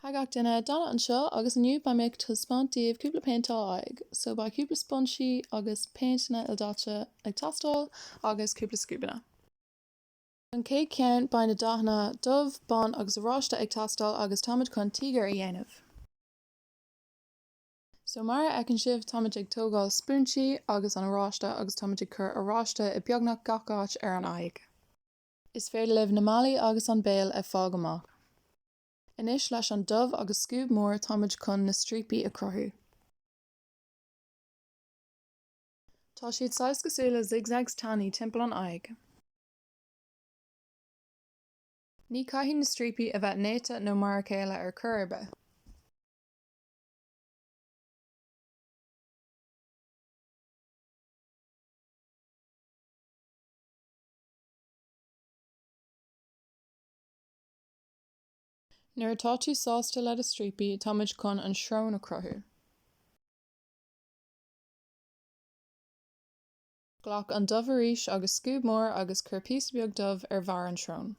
Hey gach duine Dana anseo, agus inniu beidh mé ag taispeáint daoibh cúpla péinteáil aghaidh. So, beidh cúpla spúinsí agus péinteanna ildaite ag teastáil, agus cúpla scuabanna. Don chéad cheann, beidh na dathanna dubh, bán agus oráiste ag teastáil, agus táimid chun tíogar a dhéanamh. So, mar a fheiceann sibh, táimid ag tógáil spúinsí agus an oráiste, agus táimid ag cur oráiste i beagnach gach áit ar an aghaidh. Is féidir libh na malaí agus an béal a fág amach. Anois leis an dubh agus scuab mór táimid chun na stríopaí a chruthú. Tá siad saghas cosúil le zigzags tanaí timpeall an aghaidh. Ní chaithfidh na stríopaí a bheith néata nó mar a chéile ar chor ar bith. Nuair atá tú sásta le do stríopaí, táimid chun an srón a chruthú. Glac an dubh arís agus scuab mór agus cuir píosa beag dubh ar bharr an srón.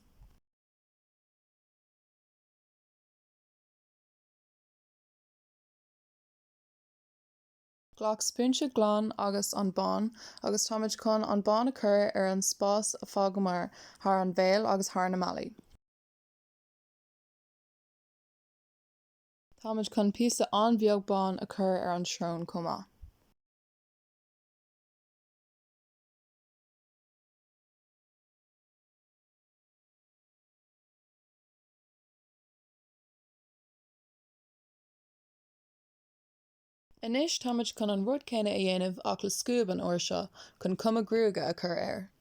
Glac spúinse glan agus an bán agus táimid chun an bán a chur ar an spás a fágamar thar an bhéal agus thar na malaí. Táimid chun píosa an-bheag bán a chur ar an srón chomh maith. Anois táimid chun an rud céanna a dhéanamh ach le scuab an uair seo chun cuma gruaige a chur air.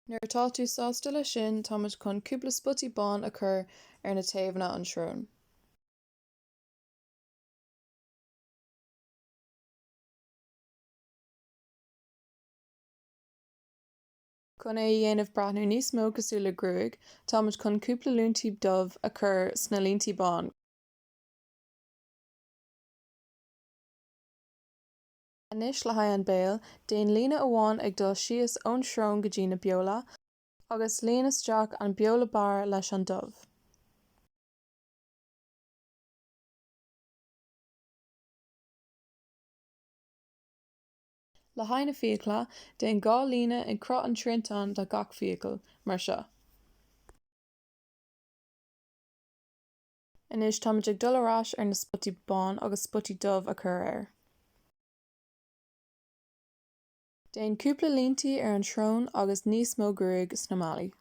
Nuair atá tú sásta leis sin, táimid chun cúpla spotaí bán a chur ar na taobhanna an tsrón. Chun é a dhéanamh breathnú níos mó cosúil le gruaig, táimid chun cúpla líntí dubh a chur sna líntí bán. Anois, le haghaidh an béil, déan líne amháin ag dul síos ón srón go dtí na beola, agus líon isteach an beola barr leis an dubh. Le haghaidh na fiacla, déan dhá líne i gcruth an triantáin do gach fiacail, mar seo. Anois táimid ag dul ar ais ar an spotaí bán agus spotaí dubh a chur air. Déan cúpla líntí ar an tsrón agus níos mó gruaig sna malaí.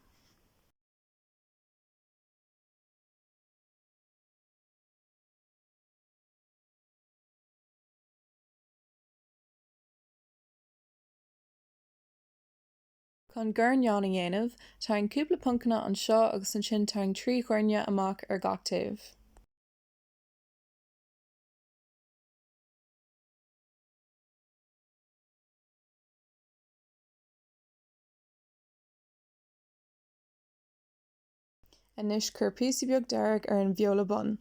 Chun guairneán a dhéanamh, tarraing cúpla poncanna anseo agus ansin tarraing trí ghuairne amach ar gach taobh. Anois cuir píosa beag dearg ar an beola bun.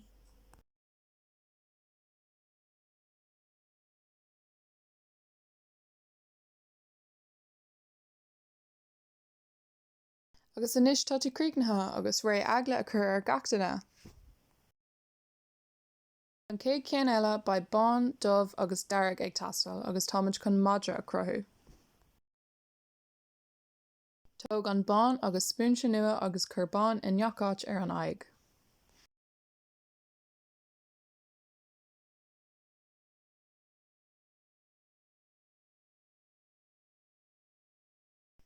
Agus anois tá tú críochnaithe agus réidh eagla a chur ar gach duine. An chéad cheann eile, beidh bán, dubh agus dearg ag teastáil agus táimid chun madra a chruthú. Tóg an bán agus spúinse nua agus cuir bán i ngach áit ar an aghaidh.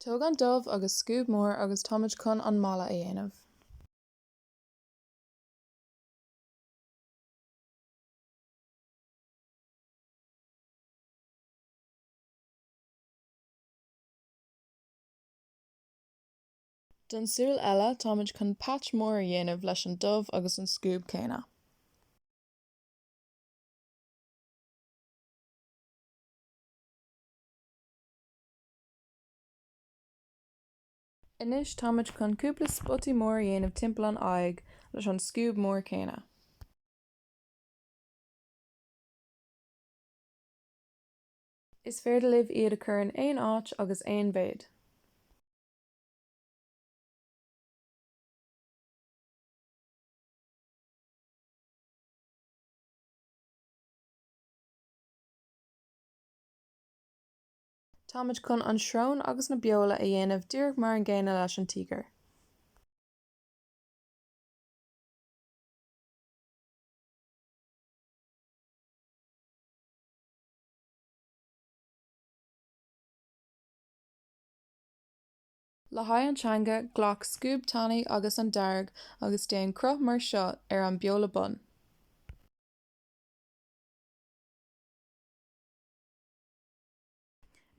Tóg an dubh agus scuab mór agus táimid chun an mala a dhéanamh. Don tsúil eile, táimid chun patch mór a dhéanamh leis an dubh agus an scuab céanna. Anois táimid chun cúpla spotaí mór a dhéanamh timpeall an aghaidh leis an scuab mór céanna. Is féidir libh iad a chur in aon áit agus aon mhéid. Táimid chun an srón agus na beola a dhéanamh díreach mar an gcéanna leis an tíogar. Le haghaidh an teanga, glac scuab tanaí agus an dearg agus déan cruth mar seo ar an beola bun.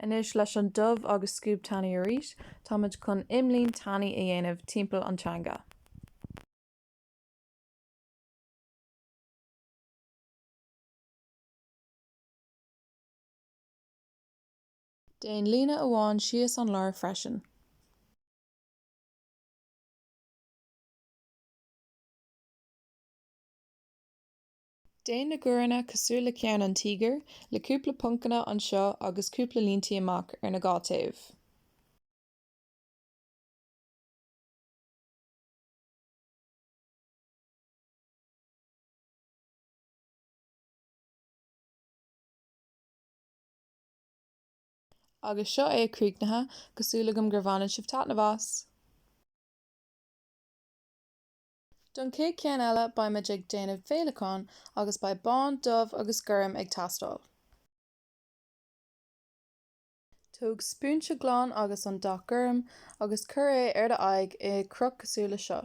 Anois, leis an dubh agus scuab tanaí arís, táimid chun imlíne tanaí a dhéanamh timpeall an teanga. Déan líne amháin síos an lár freisin. Déan na guaireanna cosúil le ceann an tíogair, le cúpla poncanna anseo agus cúpla líntí amach ar na dhá taobh. Agus seo é críochnaithe, tá súil agam gur bhaineann sibh taitneamh as! Don chéad cheann eile beimid ag déanamh féileacán agus beidh bán, dubh agus gorm ag teastáil. Tóg spúinse glan agus an dath gorm agus cuir é ar do aghaidh i gcruth cosúil le seo.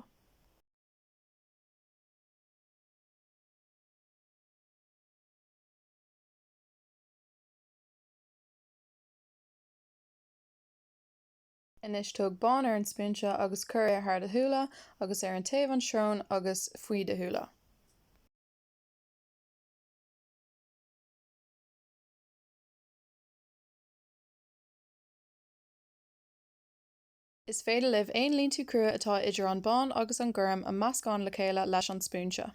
Anois tóg bán ar an spúinse agus cuir é thar do shúile agus ar an taobh an srón agus faoi do shúile. Is féidir libh aon líntí crua atá idir an bán agus an gorm a mheascán le chéile leis an spúinse.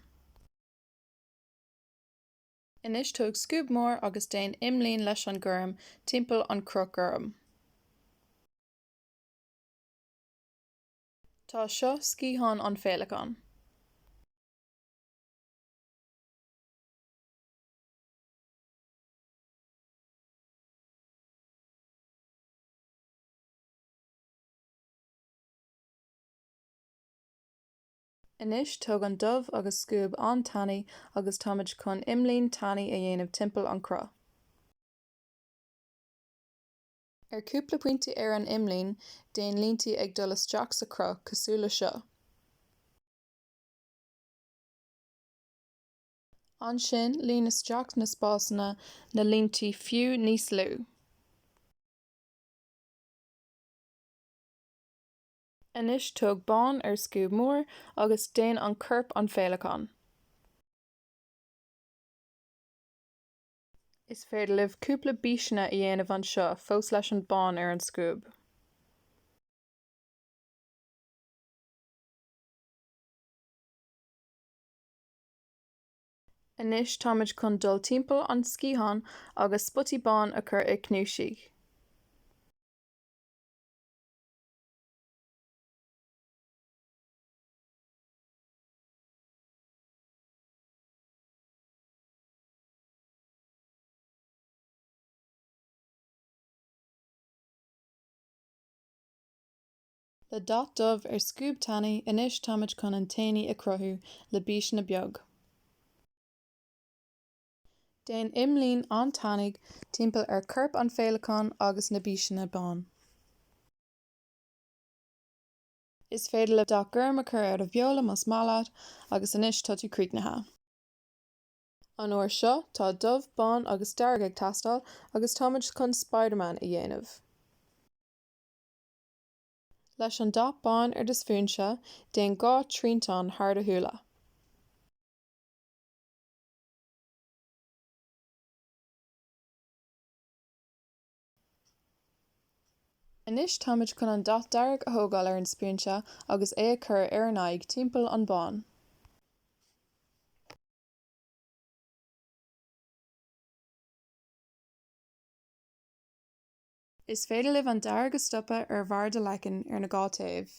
Anois tóg scuab mór agus déan imlíne leis an gorm timpeall an chruth gorm. Tá seo sciathán an féileacán. Anois tóg an dubh agus scuab an-tanaí agus táimid chun imlíne tanaí a dhéanamh timpeall an cruth. Ar cúpla pointe ar an imlíne, déan líntí ag dul isteach sa chruth, cosúil le seo. Ansin, líon isteach sna spásanna na líntí fiú níos lú. Anois tóg bán ar scuab mór agus déan an corp an féileacán. Is féidir libh cúpla bíseanna a dhéanamh anseo fós leis an bán ar an scuab. Anois táimid chun dul timpeall an sciathán agus spotaí bán a chur i gcnuasaigh. Le dath dubh ar scuab tanaí, anois táimid chun aintéiní a chruthú le bíseanna beag. Déan imlíne an-tanaí timpeall ar chorp an féileacáin agus na bíseanna bán. Is féidir leat dath gorm a chur ar do bheola más maith leat agus anois tá tú críochnaithe. An uair seo tá dubh, bán agus dearg ag teastáil agus táimid chun Spiderman a dhéanamh. Leis an dath bán ar do spúinse, déan dhá thriantán thar do shúile. Anois táimid chun an dath dearg a thógáil ar an spúinse agus é a chur ar an aghaidh timpeall an bán. Is féidir libh an dearg a stopadh ar bharr do leacain ar na dhá taobh.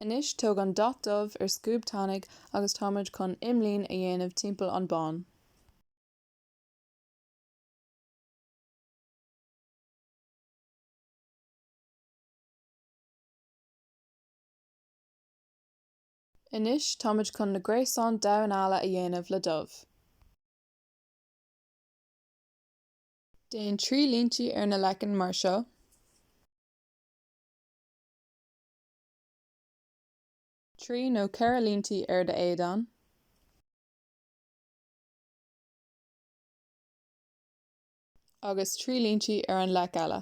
Anois tóg an dath dubh ar scuab tanaí agus táimid chun imlíne a dhéanamh timpeall an bán. Anois táimid chun na gréasáin damhán alla a dhéanamh le dubh. Déan trí líntí ar na leicinn mar seo. Trí nó ceithre líntí ar do éadan. Agus trí líntí ar an leiceann eile.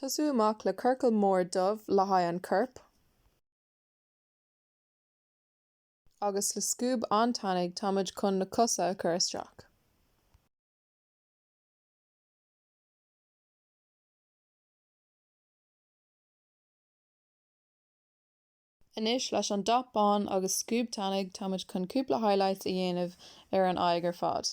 Tosú amach le ciorcal mór dubh le haghaidh an chorp agus le scuab an-tanaí táimid chun na cosa a chur isteach. Anois leis an dath bán agus scuab tanaí táimid chun cúpla highlights a dhéanamh ar an aghaidh ar fad.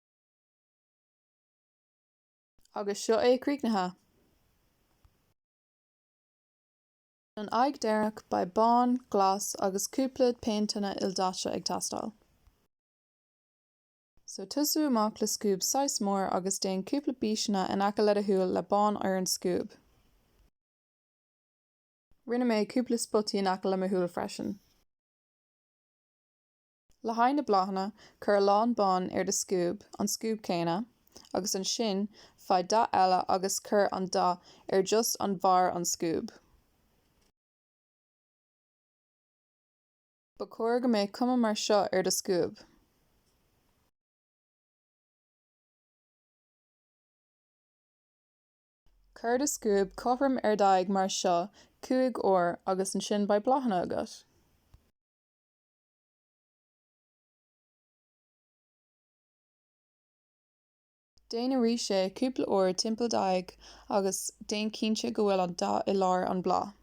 Agus seo é críochnaithe. Don aghaidh deireanach beidh bán, glas agus cúpla péinteanna ildaite ag teastáil. So tosú amach le scuab saghas mór agus déan cúpla bíseanna in aice le do shúil le bán ar an scuab. Rinne mé cúpla spotaí in aice le mo shúil freisin. Le haghaidh na bláthanna, cuir a lán bán ar do scuab, an scuab céanna, agus ansin faigh dath eile agus cuir an dath ar just an bharr an scuab. Ba chóir go mbeadh cuma mar seo ar do scuab. Cuir do scuab cothrom ar d'aghaidh mar seo cúig uair agus ansin beidh bláthanna agat. Déan arís é, cúpla uair, timpeall d'aghaidh, agus déan cinnte go bhfuil an dath i lár an bhláth.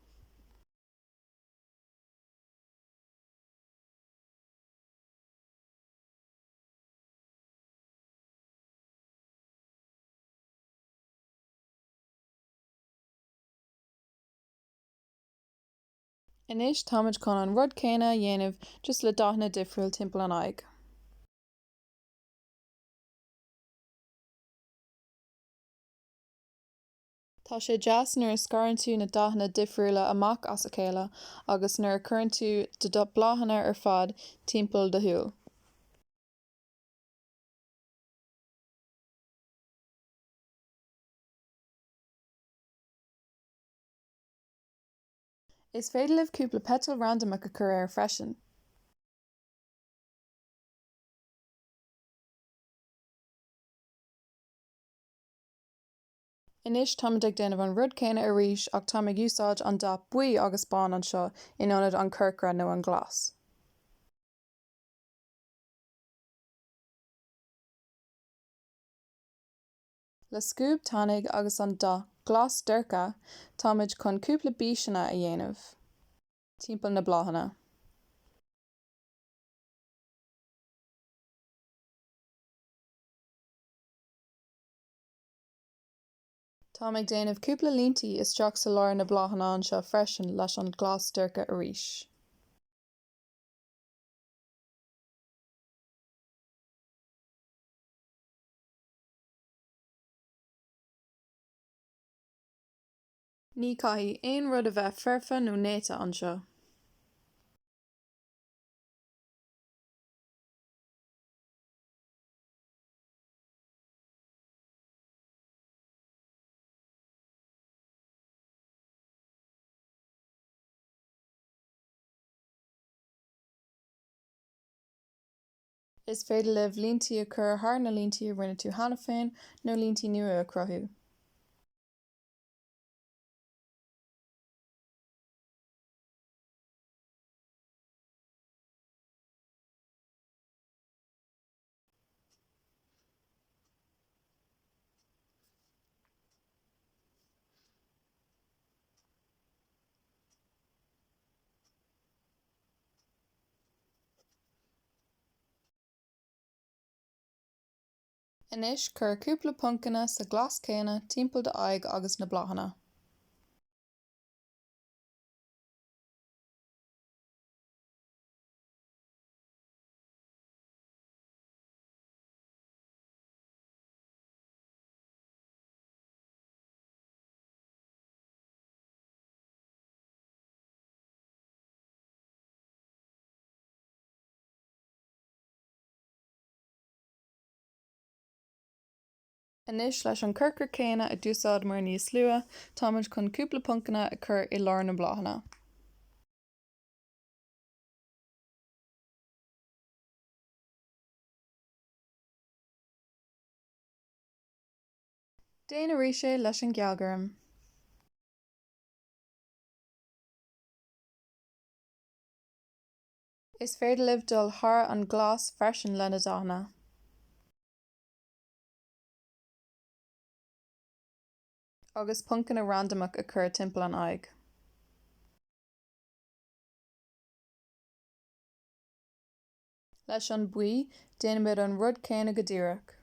Anois táimid chun an rud céanna a dhéanamh just le dathanna difriúil timpeall an aghaidh. Tá sé deas nuair a scarann tú na dathanna difriúla amach as a chéile agus nuair a chuireann tú na bláthanna ar fad timpeall do shúl. Is féidir libh cúpla peiteal randamach a chur air freisin. Anois táimid ag déanamh an rud céanna arís ach táim ag úsáid an dath buí agus bán anseo in ionad an chorcra nó an ghlas. Le scuab tanaidh agus an dath glas dorcha táimid chun cúpla bíseanna a dhéanamh timpeall na bláthanna. Táim ag déanamh cúpla líntí isteach sa lár na bláthanna anseo freisin leis an ghlas dorcha arís. Ní caithfidh aon rud a bheith foirfe nó néata anseo. Is féidir libh líntí a chur thar na líntí a rinne tú cheana féin nó líntí nua a chruthú. Anois cuir cúpla poncanna sa ghlas céanna timpeall d'aghaidh agus na bláthanna. Anois, leis an corcra céanna a d'úsáideamar níos luath, táimid chun cúpla poncanna a chur i lár na mbláthanna. Déan arís é leis an ghealghorm. Is féidir libh dul thar an nglas freisin le na dathanna. agus poncanna randamach a chur timpeall an aghaidh. Leis an buí, déanaimid an rud céanna go díreach.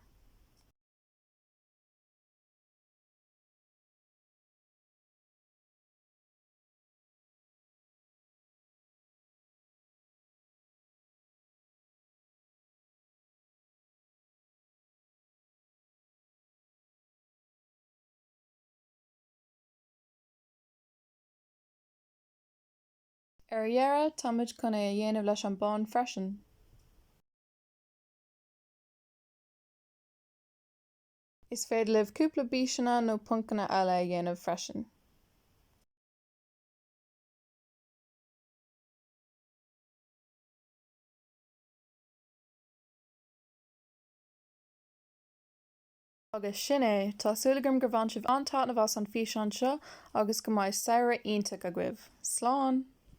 Ar dheireadh, táimid chun é a dhéanamh leis an bán freisin. Is féidir libh cúpla bíseanna nó poncanna eile a dhéanamh freisin. Agus sin é. Tá súil agam gur bhain sibh an-taitneamh as an bhfíseán seo agus go mbeidh samhradh iontach agaibh. Slán!